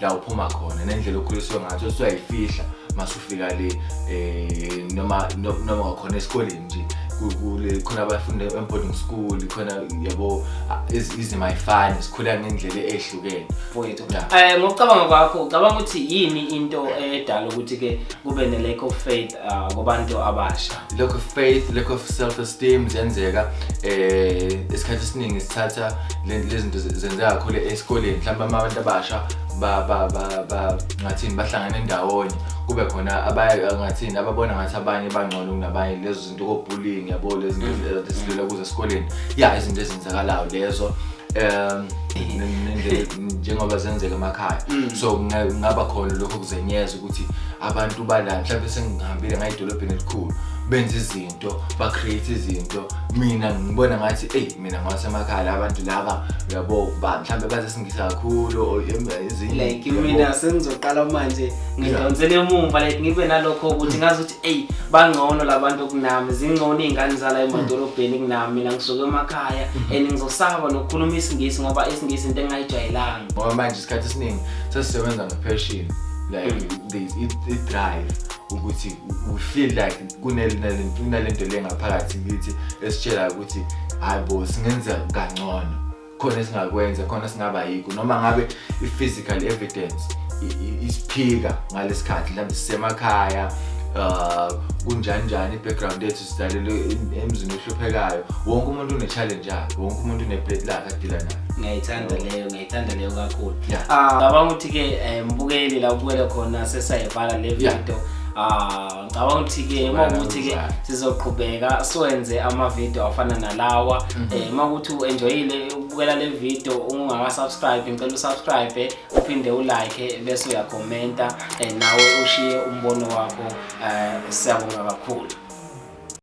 la uphuma khona nendlela okhuliswe ngathi usuyayifihla masufika le eh noma noma wakhona esikoleni nje kule khona abafunde emboding school khona yabo izima ifani sikhula ngendlela ehlukene mfowethu eh ngokucabanga kwakho ucabanga ukuthi yini into edala ukuthi ke kube ne lack of faith uh, kubantu abasha lack of faith lack of self esteem ziyenzeka eh isikhathi esiningi sithatha lezinto zenzeka kakhulu esikoleni mhlawumbe abantu abasha ba ba ba ba ngathini bahlangana endawonye kube khona abaye ngathini ababona ngathi abanye bangcono kunabanye lezo zinto kobullying yabo lezi zinto ezisilula kuze esikoleni ya izinto ezenzakalayo lezo um njengoba zenzeka emakhaya mm. so kungaba khona lokho kuzenyeza ukuthi abantu bala mhlawumbe sengihambile ngaye edolobheni elikhulu benza izinto ba-create izinto mina ngibona ngathi eyi mina ngwasemakhala abantu laba uyabo ba mhlawumbe bazesingisa kakhulu like mina sengizoqala manje ngidonsele emumva like ngibe nalokho ukuthi ngazi ukuthi eyi bangcono labantu kunami zingcono iy'ngane zala emadolobheni kunami mina ngisuke emakhaya mm-hmm. and ngizosaba nokukhuluma isingisi ngoba isingisi into engingayijwayelanga ngoba manje isikhathi esiningi sesisebenza nge-passion like mm. they it, it drive ukuthi we feel like kunalento le ngaphakathi kithi esitshela ukuthi hayi bo singenza kangcono khona esingakwenza khona singaba yikho noma ngabe i-physical evidence isiphika ngalesikhathi mhlawumbe sisemakhaya uh kunjani njani i-background yethu sidalelwe emzini ohluphekayo wonke umuntu une-challenge yakhe wonke umuntu une-plate lakhe adila nayo ngiyayithanda leyo ngithanda leyo kakhulu Yeah. Ah, ngicabanga ukuthi ke eh, mbukeli la ubukele khona sesayivala le Yeah. video Ah, ngicabanga ukuthi ke uma Ubala ukuthi ke uzala. sizoqhubeka siwenze ama-video afana nalawa Mhm. Eh, uma ukuthi u-enjoyile ukubukela le video ungakasubscribe ngicela usubscribe uphinde ulike bese uyakhomenta eh, nawe ushiye umbono wakho Eh, siyabonga kakhulu